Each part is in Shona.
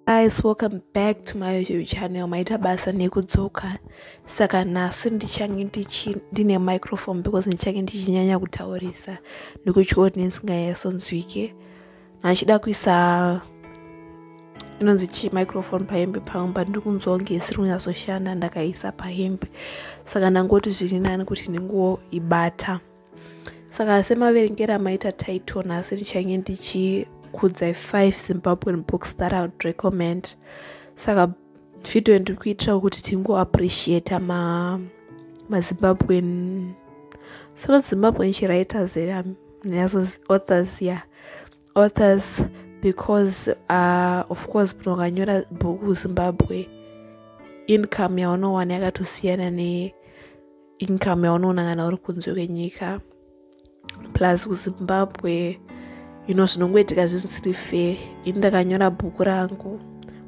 guys welcome back to my youtube channel maita basa nekudzoka saka nhasi ndichange ndine microphone because ndichange ndichinyanya kutaurisa nekuti audience ngayasonzwike achida kuisa inonzi chi microphone pahembe pangu but ndiri kunzwa kunge isiri kunyatsoshanda ndakaisa pahembe saka ndangoti zviri nani kuti ndinguwo ibata saka semaverengero amaita title nhasi ndichange ndichikudzai five zimbabwean books that i would recommend saka video ndiri kuitirawo kuti tingoappreciata ma mazimbabwen so not zimbabwen chiwriters here um, nazo authors ya yeah. authors because uh, of course pno ukanyora bhuku zimbabwe income yaunowana yakatosiyana neincome yaunoona kana uri kunze kwenyika plus kuzimbabwe you know zvinongoitika zvisiri fair ini ndakanyora bhuku rangu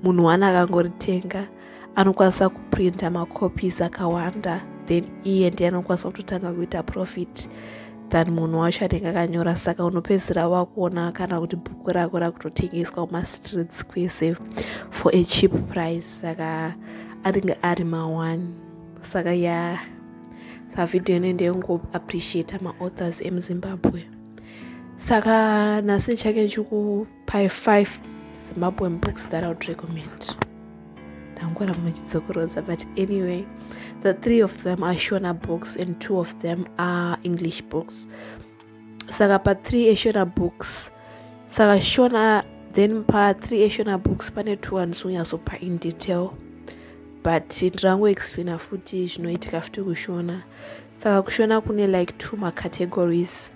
munhu wani akangoritenga anokwanisa kuprinta macopies akawanda then iye ndiye anokwanisa kutotanga kuita profit than munhu wacho anenge akanyora saka unopedzisira wakuona kana kuti bhuku rako rakutotengeswa kumastreets kwese for a cheap price saka anenge ari mawani saka ya yeah. sa video ine ndeyongo appreciate maauthors emuzimbabwe saka nhasi ndichake ndichikupai five zimbabwean books that iwould recommend ndangora muchidzokorodza but anyway the three of them are shona books and two of them are english books saka pa 3 eshona books saka shona then pa 3 eshona books pane two andizonyasopa in detail but ndirangoexplaina futi zvinoitika futi kushona saka kushona kune like two macategories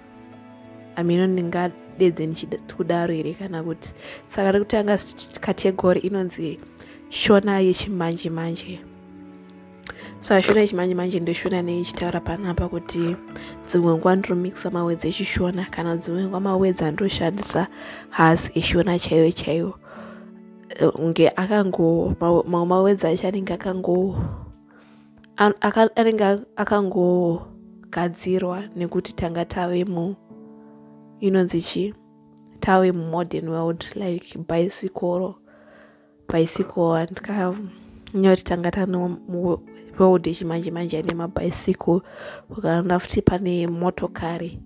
amino ndingadedze ndichikudaro here kana kuti saka rekutanga category inonzi shona yechimanje manje, manje. so ashona echimanje manje ndoshona neichitaura panapa kuti dzimwe nguva ndinomikisa mawedzi echishona kana dzimwe nguva mawedzi andoshandisa hasi eshona chaiyo chaiyo eh, nge akango mamwe mawedzi acho anenge akango anenge akangogadzirwa nekuti tanga tave mu inonzi chii tave mumodern world like bhayisikoro bicycle andika nyori tanga tano road yechimanje manje ane mabhaisiko ukaona futi pane motokari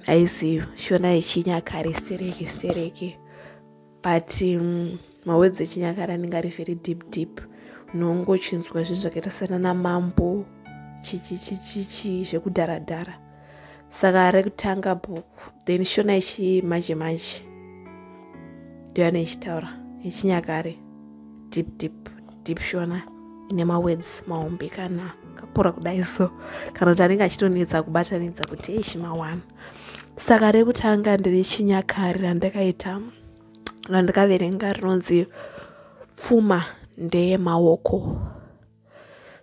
aizi shona yechinyakare stereki stereki but um, mawedzi echinyakare anenge ari very deep deep unongo uchinzwa zvinhu zvakaita sana namambo chichichichichi zvekudharadhara saka rekutanga book then shona yechimanje manje ndoyane ichitaura yechinyakare deep deep deep shona ine mawords mahombe kana kapora kudai so kana kuti anenge achitonetsa kubatanidza kuti eishi mawana saka rekutanga ndiri chinyakare randakaita randikaverenga rinonzi pfuma ndeyemaoko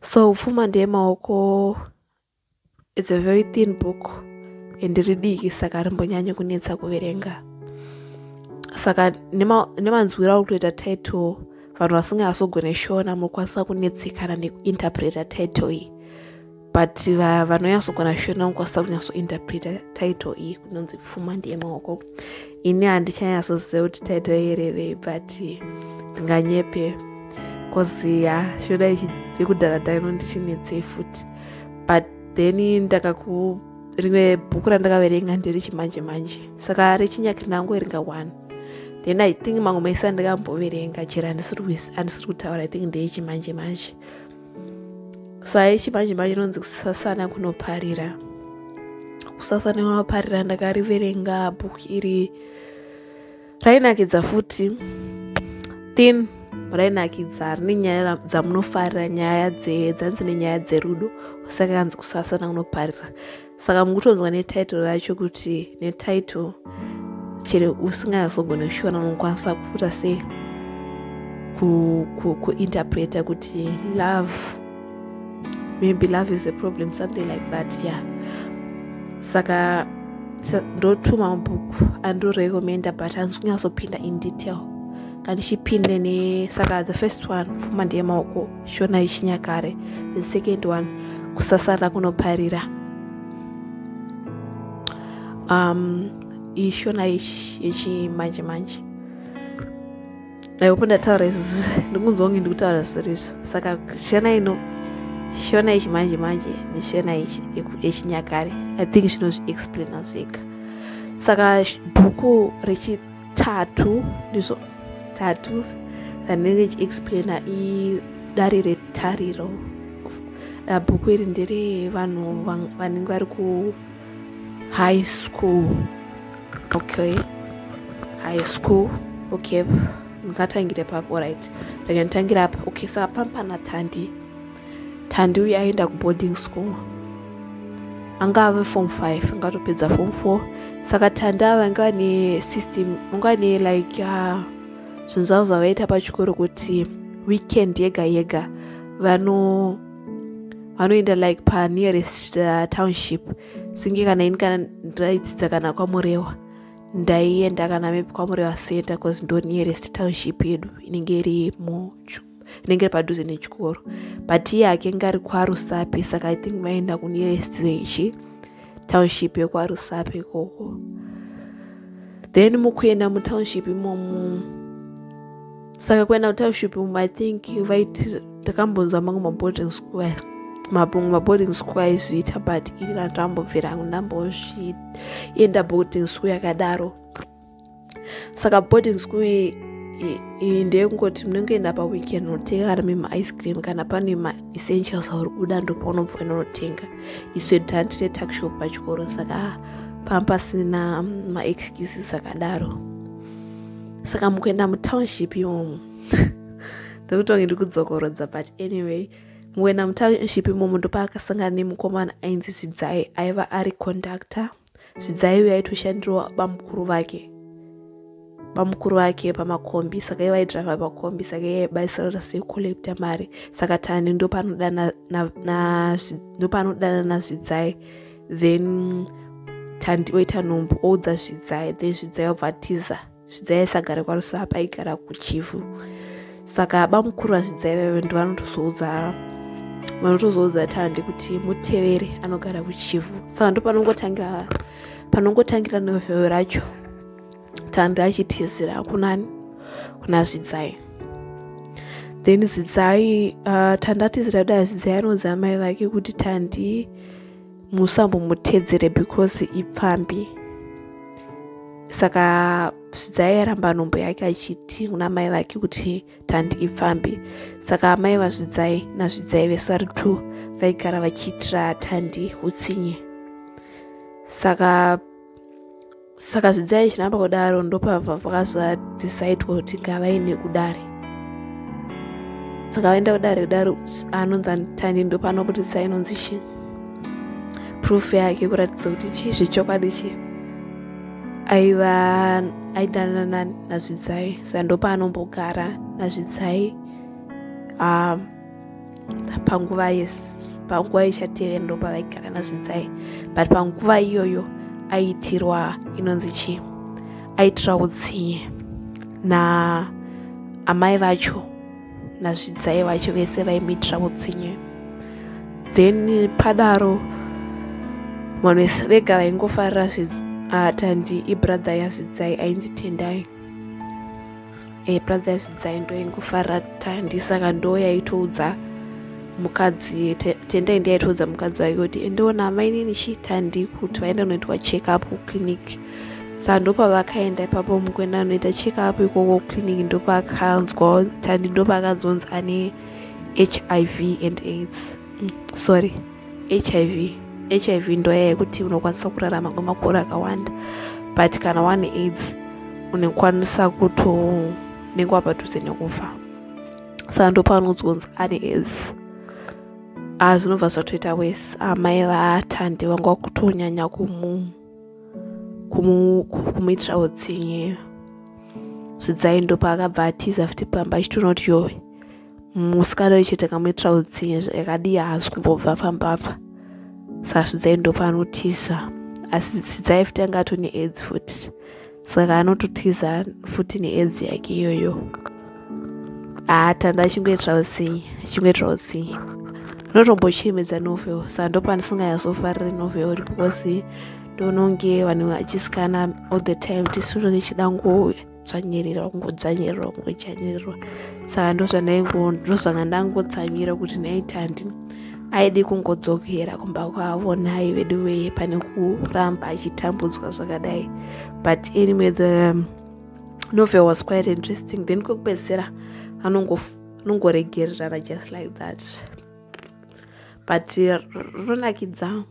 so pfuma ndeyemaoko It's a very thin book and ridiki saka rimbonyanyo kunetsa kuverenga saka nemanzwira uri kutoita title vanhu vasingazogone shona mokwanisa kunetsekana nekuinterpreta title iyi but vanonyasogona shona mokwanisa kunyatsointerpreta title iyi kunonzi pfuma ndiye maoko ini handichanyasoziva kuti taito yerevei but ndinganyepe koziya shoda yekudhara taino ndichinetsei futi but then ndakaku rimwe bhuku randakaverenga ndiri chimanje manje saka rechinyakiri ndangoverenga one then i think mamwe maisa ndikamboverenga chero handisiri kutaura i think ndeyechimanje manje, manje. sai chimanje manje inonzi kusasana kunoparira kusasana kunoparira ndakariverenga bhuku iri rainakidza futi tin rainakidza rine nyaya dzamunofarira nyaya dzanzi nenyaya dzerudo saka kanzi kusasana kunoparira saka mukutonzwa netitle racho kuti netitle chero usingazogona kushiona unokwanisa kuita sei kuinterpreta kuti love maybe love is a problem something like that yeah saka ndotuma mabhuku andorecommenda but handisi kunyatsopinda in detail kandichipinde ne saka the first one fuma ndeyemaoko shona yechinyakare the second one kusasarira kunoparira um, iyi shona yechimanje manje aipo ndataura izvozvo ndikunzwa kunge ndikutaura zvisiri izvo saka shona ino shona yechimanje manje neshona yechinyakare i think zvinozviexplaina zvega saka bhuku rechi tatu ndizvo tatu zvanenge chiexplaina idare retariro ah, bhuku iri ndere vanhu vanenge vari ku high school okay high school okay ndingatangira papo right ndakanitangira apa okay saka pampana tandi Thandi uye aenda kuboarding school anga ave form 5 ngatopedza form 4 saka Thandi ava anga ane system anga ane like uh, zvinhu zvavo zvavaita pachikoro kuti weekend yega yega vano vanoenda like panearest uh, township singe kana ini kana ndaidzidza kana kwamurewa ndaienda kana mepi kwamurewa center bcause ndo nearest township yedu inenge iri muchu rinenge padhuze nechikoro but iye akenge ari kwarusape saka i think vaenda kunearest rechi township yekwarusape ikoko then mukuenda mutownship imomu saka kuenda kutownship imomu i think vaiti takambonzwa mangu maboarding school mabongo maboarding school aizviita but iri randambobvira ndambozvienda boarding school yakadaro saka boarding school iyi ndeyekungoti munenge enda paweekend unotenga kana mima ice cream kana pane ma essentials auri kuda ndopaunobva enda unotenga iswe tantine tuckshop pachikoro saka ah, panga pasina mm, maexcuses akadaro saka mukuenda mutownship imomo ndokutonge ndikudzokorodza but anyway mukuenda mutownship imomo ndopaakasangana nemukomana ainzi zvidzai aiva ari conductor zvidzai uyo aitoshandirwa bamukuru vake bamukuru vake pamakombi saka iye vaidriva pakombi saka iye aibaisirana sekukollekta mari saka tani ndopanodana nazvidzai then tandi oita nhumbu oudza zvidzai then zvidzai obva tiza zvidzai aisagara kwaRusapa aigara kuChivu saka bamukuru vazvidzai vaive ndovanotozoudza vanotozoudza tandi kuti mutevere anogara kuchivu saka ndo panongotangira panongotangira novhero racho tandi achitizira kunani kuna zvidzai then zvidzai uh, tandi atizira kudai zvidzai anonzi amai vake kuti tandi musambomutedzere because ipfambi saka zvidzai yaramba nhombo yake achiti kuna mai vake kuti tandi ipfambi saka amai vazvidzai nazvidzai vese vari two vaigara vachiitira tandi utsinye saka saka zvidzai zvinamba kudaro ndopabva vakazvadisaidwa kuti ngavaine kudare saka vaenda kudare kudare anonzi anitani ndopano kuti tsai inonzi chii proof yake kuratidza kuti chii zvechokwadi chii aiva aidanana nazvidzai saka ndopanombogara nazvidzai um, panguva yes panguva ichatevera ndopavaigara nazvinzai but panguva iyoyo aiitirwa inonzi chii aitira utsinye na amai vacho nazvidzai vacho vese vaimuitira utsinye then padaro vanhu vese vega vaingofarira zvidzai atandi ah, ibrother yazvidzai ainzi tendai e brother yazvidzai ndoingofara tandi saka ndo yaitoudza mukadzi tendai ndi yaitoudza mukadzi wake kuti endeona amainini chi tandi kuti vaenda kunoitwa check up kuclinic saka ndopavakaenda ipapo mukuenda anoita check up ikoko kuclinic ndopakanzwa tandi ndopaakanzonzi ane hiv and aids mm, sorry hiv hiv ndoya yekuti unokwanisa kurarama kwemakore akawanda but kana wane aids unekwanisa kutonenge wapadhuze nekufa saka ndopaunonzwa kunzi ane aids a ah, zvinobva zvatoita wese amai ah, vaatandi vanga kutonyanya kumu kumuitira utsinye zvidzai ndopaakabva atiza futi pamba achitoona kuti yowe musikana uyu chete kamwe troutsiye zvakadii haasi kumbobva pamba apa sasvidzai ndopanotiza asi sidzai futi anga ato needzi futi saka anototiza futi needzi yake iyoyo atanda achingoitira utsinye achingoitira utsinye ndotombochemedza novel saka ndopandisinganyasofarire novel uri because ndononge vanhu vachisikana all the time tisunonge chidangouya kudzvanyirira kungodzvanyirira kungodzvanyirirwa saka ndozvandozvanga ndangodzvanyira kuti naiti handi aidi kungodzokera kumba kwavo nhai vedu veye pane kuramba achitambudzwa zvakadai but anyway the um, novel was quite interesting then kwekupedzisira anongoregererana just like that but rinonakidza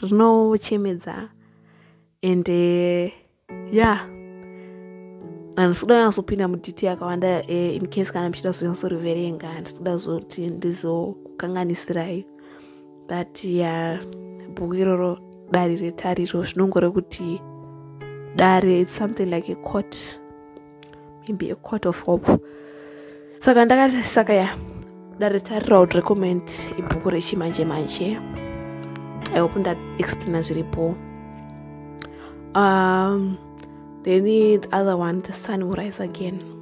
rinochemedza ende yeah handisi kuda kunyazopinda muditi yakawanda eh, in case kana muchida kuzonyazoriverenga handisi kuda zoti ndizokukanganisirai but ya bhuku iroro dare retariro zvinongore kuti dare its something like a court maybe a court of hope saka ndakati saka ya ndaritarirawo recommend ibhuku rechimanje manje i hope ndaexplaina zviripo um, then the other one the sun will rise again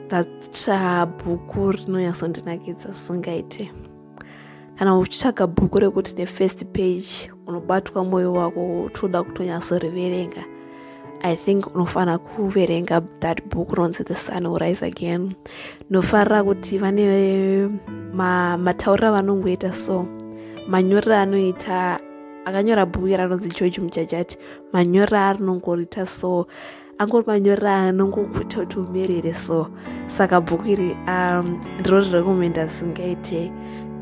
that uh, bhuku rinonyatsondinakidza singaite kana uchitsvaga bhuku rekuti the first page unobatwa mwoyo wako utoda kutonyatsoreverenga i think unofanira kuverenga that book ronzi the sun will rise again nofarira kuti vane mataurira ma vanongoita so manyorera anoita akanyora bhuku ranonzi george mujajati manyorera arinongorita so angori manyora anongokuta kuti umerere so saka bhuku iri um, ndiro recommenda zvisingaite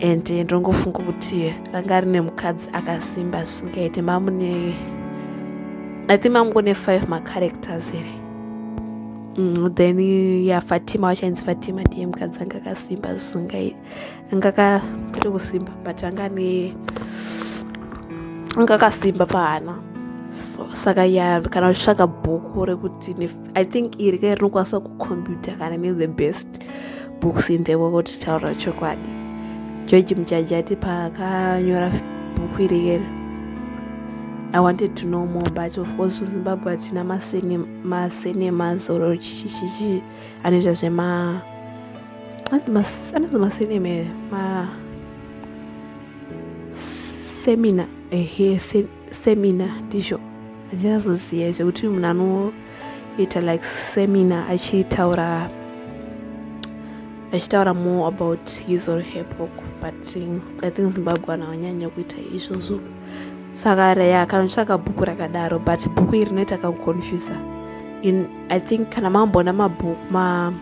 and ndongofunga kuti ranga rine mukadzi akasimba zvisingaite mamune i think mamugone five macharacters here mm, then ya fatima wachainzi fatima ndiye mukadzi anga akasimba zvisingaite anga akaita kusimba but anga ane anga akasimba pahana so saka ya kana uchitsvaga bhuku rekuti i think iri kai rinokwanisa kucomputer kana ne the best books in the world taura chokwadi george muchaji ati paakanyora bhuku iri keri i wanted to know more but of course zimbabwe hatina masenema zoro chichichichi anoita zvema anozi masinema here ma semina ehe semina ndizvo handinazoziva izvo kuti munhu anoita like semina achitaura achitaura more about his or her book but i think zimbabwe vanhu vanyanya kuita izvozvo saka reya akandotsvaka bhuku rakadaro but bhuku iri rinoita kakuconfusa in i think kana mamboona mabhuku ma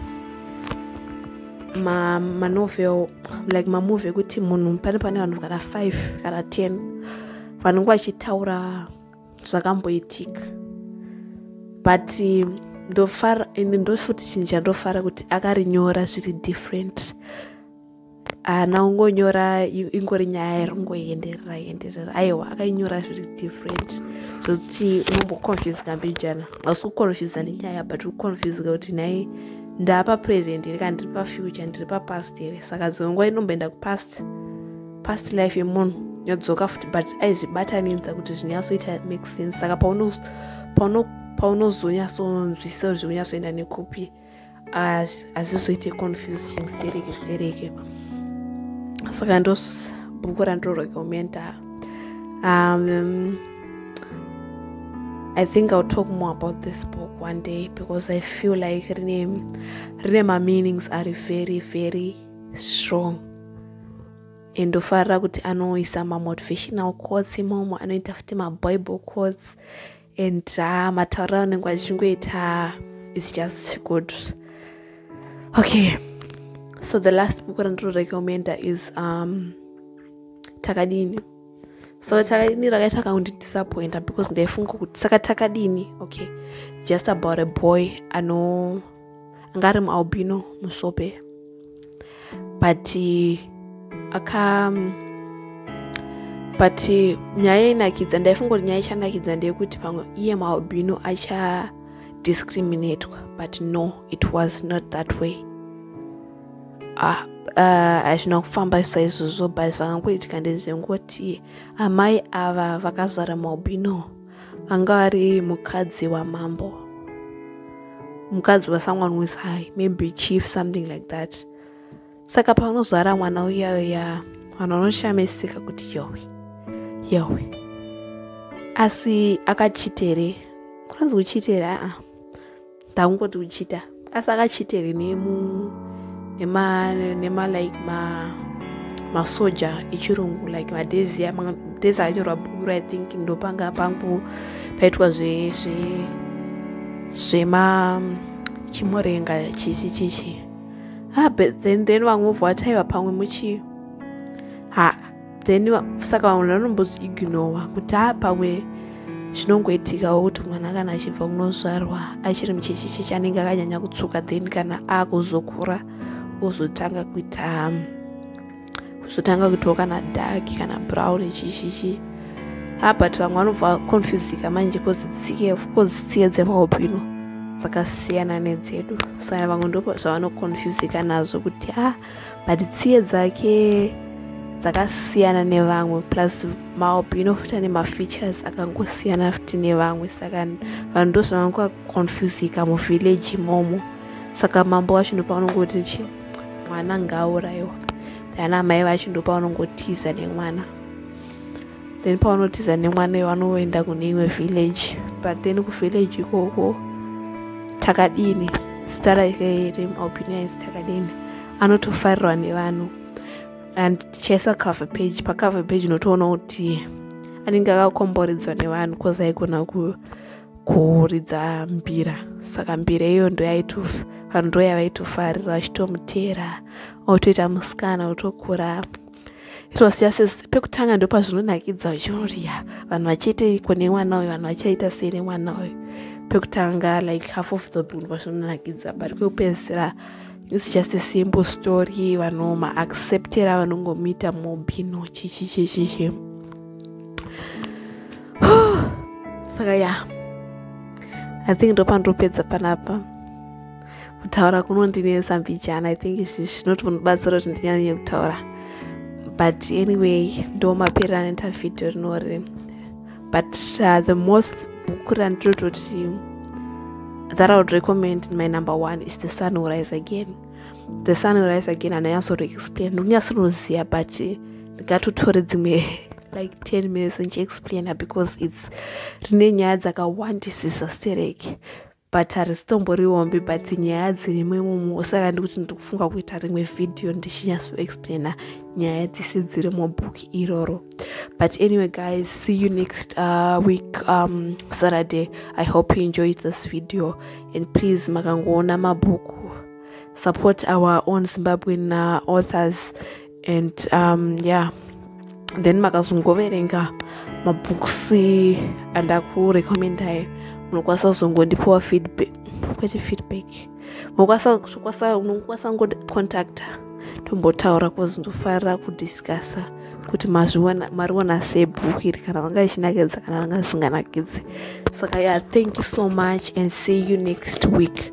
manovel ma like mamovie ekuti munhu pane pane vanhu kana five kana ten vanenge vachitaura zvakamboitika but ndofara ende ndofuti chinhu chandofara kuti akarinyora zviri different haana ah, kungonyora ingori nyaya yaringoenderera enderera aiwa akainyora zviri different zvokuti unomboconfusika mbijana hausi kuconfusa nenyaya but uconfusika kuti nhai ndapa present here kana ndiri pafuture ndiri papast here saka dzimwe nguva inomboenda kupast past life yemunhu yodzoka futi but aizvibatanidza kuti zvinyatsoita make sense saka paunozonyasonzwisisa kuti zvikunyasoenda nekupi pauno, pauno hazvizoite confusing stereke stereke saka ndos bhuku randororekomenda um, i think i'll talk more about this book one day because i feel like rine rine mameanings ari very very strong and ndofarira kuti anoisa mamotivational quotes imomo anoita futi mabible quotes and uh, matauro aunenge vachingoita its just good okay so the last book randinorecommenda is um, takadini so takadini rakaita kakundidisappointa because ndaifunga kuti saka takadini okay just about a boy ano anga ari mualbino musope but aka but nyaya inakidza ndaifunga kuti nyaya ichanakidza ndeyekuti pamwe iye mualbino acha discriminatwa but no it was not that way ah, ah, hazvina uh, kufamba saizvozvo but zvakangoitika ndezvengoti amai ava vakazara mualbino anga ari mukadzi wamambo mukadzi wasomeone who is high maybe chief something like that saka paunozvara mwana uyayo ya vanhu vanoshamisika kuti yowe yowe asi akachitere kunonzi kuchitere aa ndakungoti uchita asi akachita here nemu nema nema like ma masoja echirungu like madhezi madhezi anyorwa bhukuru i think ndopanga pangu paitwa zve zve zvema chimorenga chichi chichi ha ah, but then then vamwe vovhwataiva pamwe muchi ha then saka vamwe vanombozviignowa kuti a pamwe zvinongoitikawo kuti mwana kana achibva kunozvarwa achiri muchechecheche anenge akanyanya kutsuka then kana akuzokura ozotanga kuita kuzotanga kuitawo kana dark kana brown chichichi abat vamwe vanobva confusika manje kozi tsike ofcourse tsike dzemahopino dzakasiyana nedzedu saka vamwe ndozvavanoconfusika nazvo kuti a ah, but tsiye dzake dzakasiyana nevamwe plus maalbino futi ane mafeatures akangosiyana futi nevamwe saka vanhu ndozvavangakonfusika muvillage imomo saka mambo wacho ndopaunongoti chi mwana ngauraiwa kana amai vacho ndopaunongotiza nemwana then pavanotiza nemwana iwe vanoenda kune imwe village but then kuvillage ikoko takadini zita rake remualbinias takadini anotofarirwa nevanhu and tichaisa cover page pacover page inotoona kuti anenge akakomboredzwa nevanhu bcause aigona kuridza mbira saka mbira iyo ndoyaitofa vanhu ndoyavaitofarira vachitomuteera otoita musikana otokura it was just as pekutanga ndo pazvinonakidza uchiona ya vanhu vachiiteiko nemwana uyu vanhu vachaita sei nemwana uyu pekutanga like half of the bun pazvinonakidza but kwekupedzisira it's just a simple story vanhu maacceptera vanongomuita mobino chichichichichi saka ya i think ndopandopedza panapa kutaura kunondinetsa mbijana i think izvi zvinotonobatsira kuti ndinyanye kutaura but anyway ndo maperera anoita vhidhiyo rinori but uh, the most book randinototi that i would recommend in my number one is the sun will rise again the sun will rise again anonyasoro explain ndikunyasoroziva but ndingatotore dzimwe like 10 minutes ndichiexplaina because its rine nyaya dzakawandisisa stereki but harisitomborwi hombe but nyaya dzirimo imomo saka ndikuti ndiri kufunga kuita rimwe vhidhiyo ndichinyatsoexplaina nyaya dzese dziri mubhook iroro but anyway guys see you next uh, week um, saturday i hope you enjoyed this video and please makangoona mabhuku support our own zimbabwean uh, authors and um, yeah then makazongoverenga mabooks andakurecommendai munokwanisa kuzongondipiwa feedback kwete feedback unokwanisa ngocontacta tombotaura bcause ndofarira kudiscussa kuti mariona sei bhuku iri kana vanga ichinakidza kana vanga isinganakidzi saka ya thank you so much and see you next week